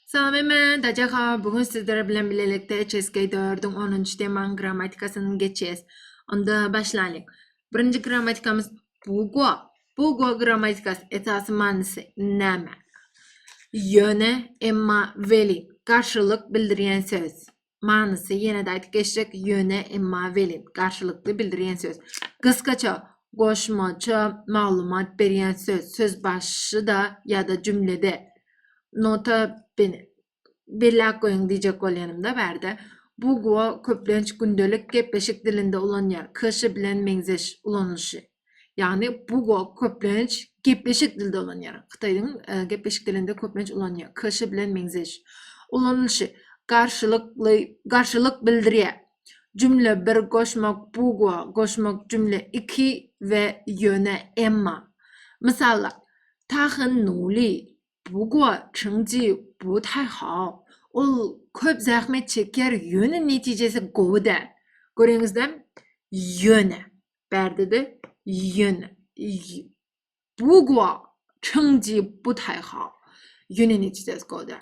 Salam eme, Daja ha, bu gün sizler bilen bilelikde HSK dördüň onunjy temaň grammatikasyny geçýäs. Onda başlaýlyň. Birinji grammatikamyz bugo. Bugo grammatikasy esasy manysy näme? Ýöne, emma, weli, garşylyk bildirýän söz. manysy ýene-de aýdyp geçsek, ýöne, emma, welin, garşylykly bildirýän söz. Gysgaça, goşmaça maglumat berýän söz, söz başyda ýa-da jümlede. Nota bene. Belläp goýuň diýjek bolýanym-da bärde, bu gwo köplenç gündelik gepleşik dilinde ulanýar, kş bilen meňzeş ulanylyşy. Ýagny Bugo köplenç gepleşik dili dolanýar. Hytaýyň e, gepleşik dilinde köplenç ulanýar. Kş bilen meňzeş. Ulanylyşy garşylykly garşylyk bildirýär. Jümle bir goşmak bugo goşmak jümle iki we ýöne emma. Mysallar. Ta hen nuli bugo çyňji bu taý hao. Ol köp zähmet çekýär, ýöne netijesi gowy däl. Göreňizde? Ýöne. Bärde-de ýöne bugwa çyňji bu taýha. Ýöne neçe ses goda.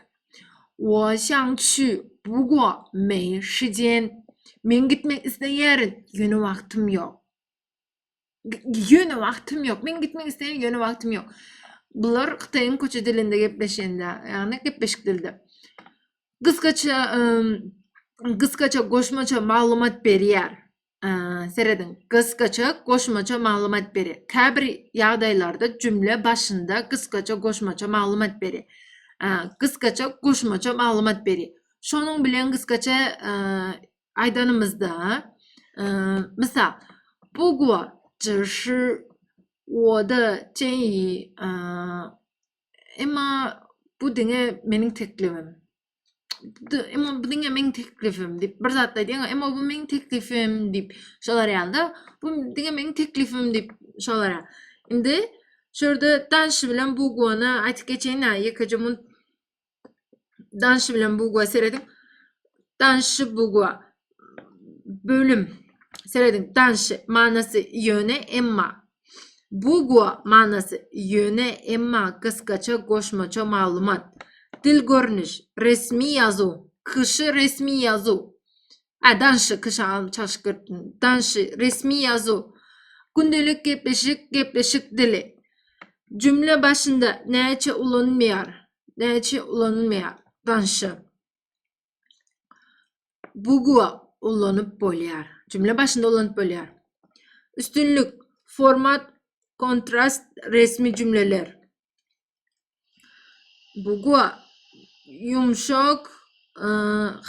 Wo şaň çü bugwa meý şijen. Men gitmek isleýärin, ýöne wagtym ýok. Ýöne wagtym ýok. Men gitmek isleýärin, ýöne wagtym ýok. Bular Hytaýyň köçe dilinde gepleşende, ýagny gepleşik dilde. Gysgaça, gysgaça goşmaça maglumat berýär. Serediň, gysgaça goşmaça maglumat beri. Käbir ýagdaýlarda jümle başynda gysgaça goşmaça maglumat beri. Gysgaça goşmaça maglumat beri. Şonuň bilen gysgaça aýdanymyzda, mysal, bu guwa jyşy oda çeýi, emma bu diňe meniň teklibim. Emma bu diňe meniň teklifim diýip bir zat aýdýan, emma bu meniň teklifim diýip şolar ýalda. Bu diňe meniň teklifim diýip şolar. Indi şurada danşy bilen bu gona aýdyp geçeýin. Ýekeje mun danşy bilen bu gona seredip danşy bu gona. bölüm serediň danşy manasy ýöne emma bugua manasy ýöne emma gysgaça goşmaça maglumat dil görnüş resmi ýazuw kyşy resmi ýazuw a danşy kyşa çalşgyrt danşy resmi ýazuw gündelik gepleşik gepleşik dili jümle başynda näçe ulanylmaýar näçe ulanylmaýar danşy Bugua ulanyp bolýar. Jümle başynda ulanyp bolýar. Üstünlik, format, kontrast, resmi jümleler. Bugua ýumşak, e,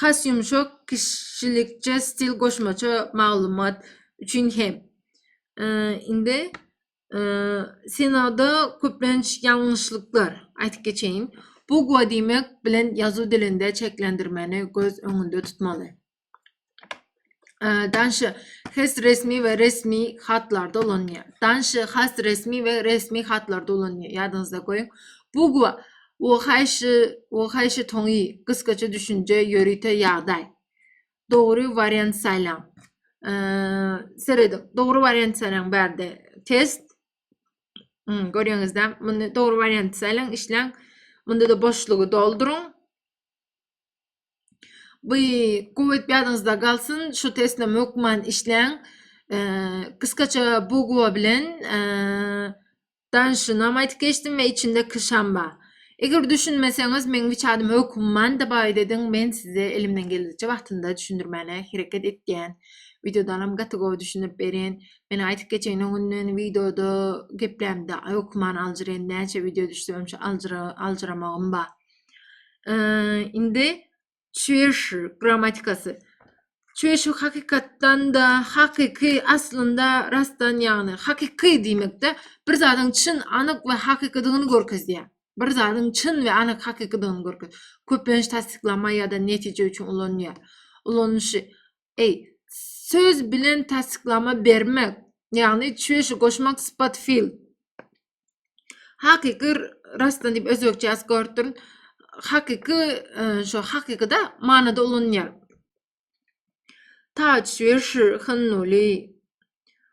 has ýumşak kişilikçe stil goşmaça maglumat üçin hem. E, indi Senada köplenç ýalňyşlyklar, aýtyp geçeýin, bugwa diýmek bilen ýazuw dilinde çeklendirmeni göz öňünde tutmaly. Danşy has resmi we resmi hatlarda ulanýar. Danşy has resmi we resmi hatlarda ulanýar. Ýadyňyzda goýuň. Bugwa o haýşy, o haýşy toňy, gysgaça düşünje, ýörite ýagdaý. dogry wariant saýlaň. Serediň. Dogry wariant saýlaň bärde. Test. Hmm, görýäňizde, muny dogry wariant saýlaň, işläň. Munda da boşlugy dolduryň. Bu gowy ýadyňyzda galsyn, şu testde mökman işläň. Kıskaça bugwa bilen Dan şunam aýtyp geçdim we içindeki şamba. Eger düşünmeseňiz meň hiç adym höküm man da baýt ediň men size elimden geldigiçe wagtynda düşündirmäne hereket etýän. Wideodanam gaty gowy düşündirip berýän. Men aýtyp geçeýin öňünden wideoda geplämde höküm man aljyryn näçe wideo düşse öňçe aljyra aljyramagym ba. Indi Çüýşi grammatikasy. Çüýşi hakykatdan-da, hakyky, aslynda, rastdan, ýagny hakyky diýmekde, bir zadyň çyn, anyk we hakykydygyny görkezýär. Bir zadyň çyn we anyk hakykydygyny görkezýär. Köplenç tassyklama ýa-da netije üçin ulanylýar. Ulanyşy. Eý, söz bilen tassyklama bermek, ýagny çüýşi goşmak sypat fil. Hakyky rastdan diýip özbekçe ýazyp görüp durun. Hakyky şo hakykyda manyda ulanýar. Ta çüýşi hynnuly.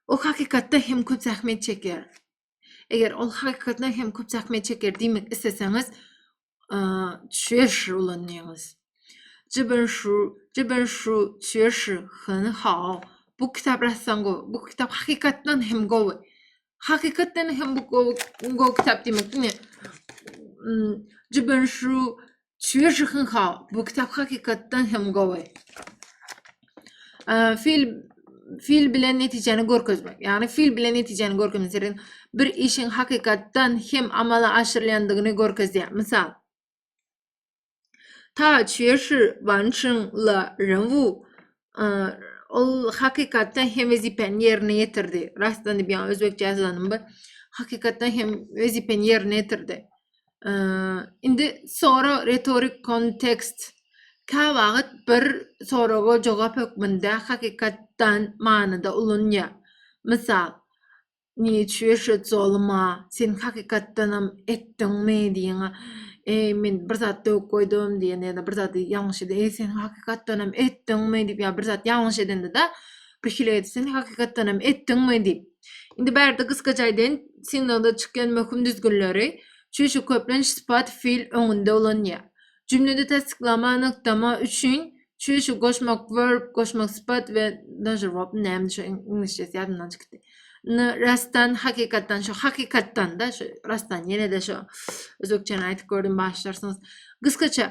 O hakykatda hem köp zähmet çekýär. Eger ol hakykatdan hem köp zähmet çeker diýmek isleseňiz, çüýeşir ulanýyňyz. Jiben şu, jiben şu çüýeşir hany hao. Bu kitap rassan gowy. Bu kitap hakykatdan hem gowy. Hakykatdan hem bu gowy, gowy kitap diýmek. Ine. Jiben şu Çwýežyhynha, bu kitap hakykatdan hem gowy. Fil fil bilen netijäni görkezmek. Ýagny fil bilen netijäni görkezmek bir işiň hakykatdan hem amala aşyrylýandygyny görkezýär. Mysal, Ta çýeşi banşyň la renwu ol hakykatdan hem wezipeni yerine getirdi. Rastdan bir yani özbekçe yazanım bu. Hakykatdan hem wezipeni yerine getirdi. Ee, indi sonra retorik kontekst kä wagt bir soraga jogap hökmünde hakykatdan manyda ulunýar. Mysal, Niç ýöşet zoluma sen hakykatdanam etdiňmi diýiň eý men bir zat döwüp goýdum diýen ýa-da bir zady ýalňyş eden eý sen hakykatdanam etdiňmi diýip ýa bir zat ýalňyş edende-de bir hile edip sen hakykatdanam etdiňmi diýip indi bärde gysgaça aýdaýyn signalda çykýan möhüm düzgünleri çüşi köplenç sypat fiil öňünde ulanýar jümlede tassyklama nygtama üçin Çüýşi goşmak, verb, goşmak sypat we dažer verb näme şu iňlisçesi ýadymdan çykdy. Ny rastdan, hakykatdan şu hakykatdan-da şu rastdan ýene-de şu özbekçäni aýdyp gördüm başlarsyňyz. Gysgaça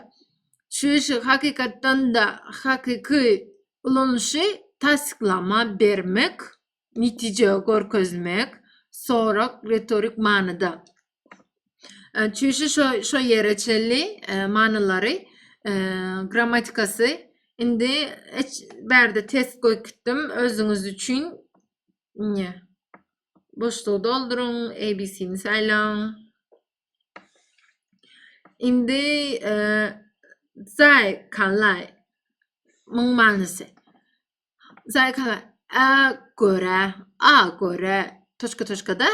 çüýşi hakykatdan-da hakyky ulanyşy tassyklama bermek netije görkezmek sorak retorik manyda. Çüýşi şo şo ýere çenli manylary grammatikasy indi bärde test gökitdim özüňiz üçin ne boşlugy dolduruň abc-ni saýlaň indi zaý kanlay myň manysy Zaýka a görä, a görä, toçka toçkada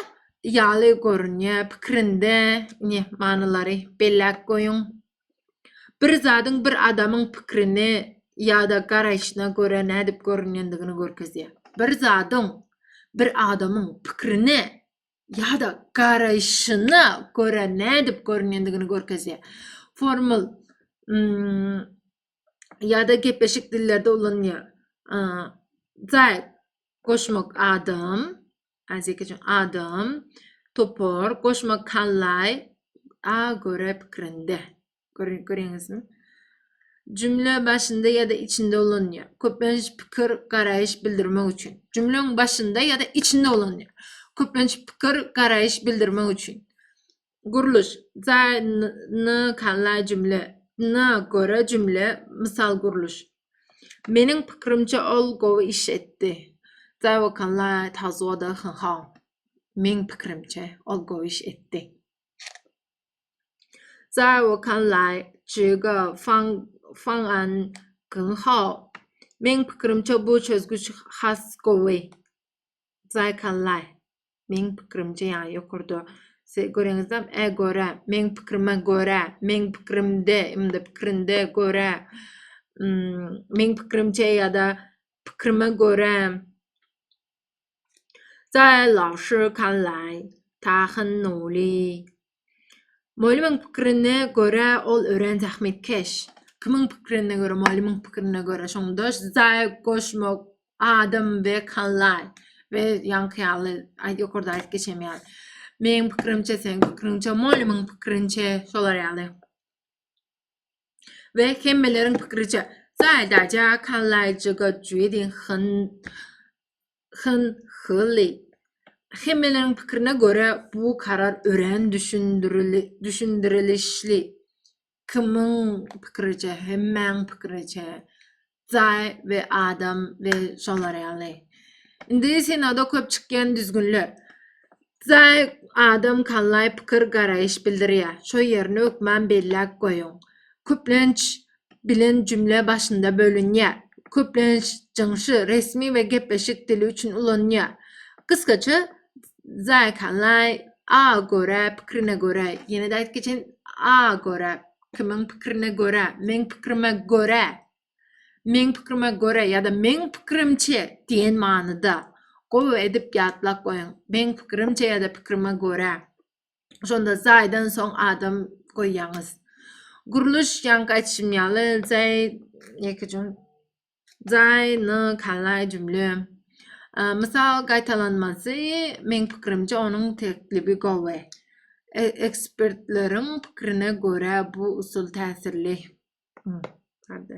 ýaly görünýä pikirinde ne manylary belläp goýuň. Bir zadyň bir adamyň pikirini ýa-da garaýşyna görä nädip görünýändigini görkezýär. Bir zadyň bir adamyň pikirini ýa-da garaýşyna görä nädip görünýändigini görkezýär. Formul ýa-da gepleşik dillerde ulanýar. Zäk goşmak adam, azek üçin adam, topar, goşmak kallaý, a görä pikirinde. Görýäňizmi? Jümle başynda ýa-da içinde ulanýar. Köplenç pikir, garaýyş bildirmek üçin. Jümleň başynda ýa-da içinde ulanýar. Köplenç pikir, garaýyş bildirmek üçin. Gurluş, za, n, ny, kanla jümle, na, görä jümle, mysal gurluş. Meniň pikrimçe ol gowy iş etdi. Za, wo, kanla, ta, zuo, da, hn, hao. Meň pikrimçe ol gowy iş etdi. Za, wo, kanla, ji, ge, fang, fang, an, gn, hao. Meň pikrimçe bu çözgüç has gowy. Zaýkallaý. Meň pikirimce ýaňy ýokarda siz göreňizdem e göre, meň pikirime göre, meň pikirimde, ýa-da pikirinde, göre, meň pikirimçe ýa-da pikirime göre. Zaýalawşykallaý. Tahynuly. Mugallymyň pikirine görä, ol örän zähmetkeş. Kimiň pikirine görä, mugallymyň pikirine görä, şonda zaýa goşmak, adam we kanlar we ýaňky ýaly aýt ýokarda aýdyp geçen ýaly. Meň pikirimçe, seň pikiriňçe, mugallymyň pikirinçe, şolar ýaly. We hemmeleriň pikiriçe, zaýa daýja, kanlaýja, götjüdiň, hyn, Hyn Hylly, Hemmeleriň pikirine görä, bu karar örän düşündirilişli. Kimiň pikiriçe, hemmäň pikiriçe, Zaý we Adam we şolar ýaly. Indi Senada köp çykýan düzgünler. Zaý, Adam, Kallaý pikir, garaýyş bildirýär. Şo ýerini hökman belläp goýuň. Köplenç bilen jümle başynda bölünýär. Köplenç jyňşy resmi we gepleşik dili üçin ulanylýar. Gysgaça Zaikanlai, a görä, pikrine görä, ýene-de aýdyp geçeýin, a görä, kimiň pikrine görä, meň pikrime görä, meň pikrime görä ýa-da meň pikirimçe diýen manyda. Gowy edip ýatlap goýuň. Meň pikirimçe ýa-da pikrime görä. Şonda zaýdan soň adam goýýaňyz. Gurluş ýaňky aýtşym ýaly zaý ýeke jüm zaýny kalaý jümle. Mysal gaýtalanmasy meň pikirimçe onuň teklibi gowy. E, ekspertleriň pikirine görä bu usul täsirli. Hadi.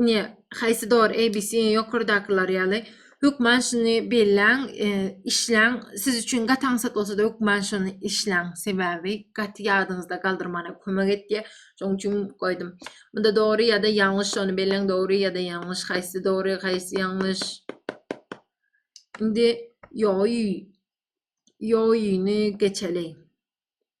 Ine, haýsy dogry ABC ýokardakylar ýaly. Hökman şuny belläň, e, işläň. Siz üçin gaty aňsat bolsa-da hökman şuny işläň. Sebäbi gaty ýadyňyzda galdyrmana kömek etýär. Şonuň üçin goýdum. Munda dogry ýa-da ýalňyş şony belläň, dogry ýa-da ýalňyş, haýsy dogry, haýsy ýalňyş. Indi ýoý ýoýyny geçeli.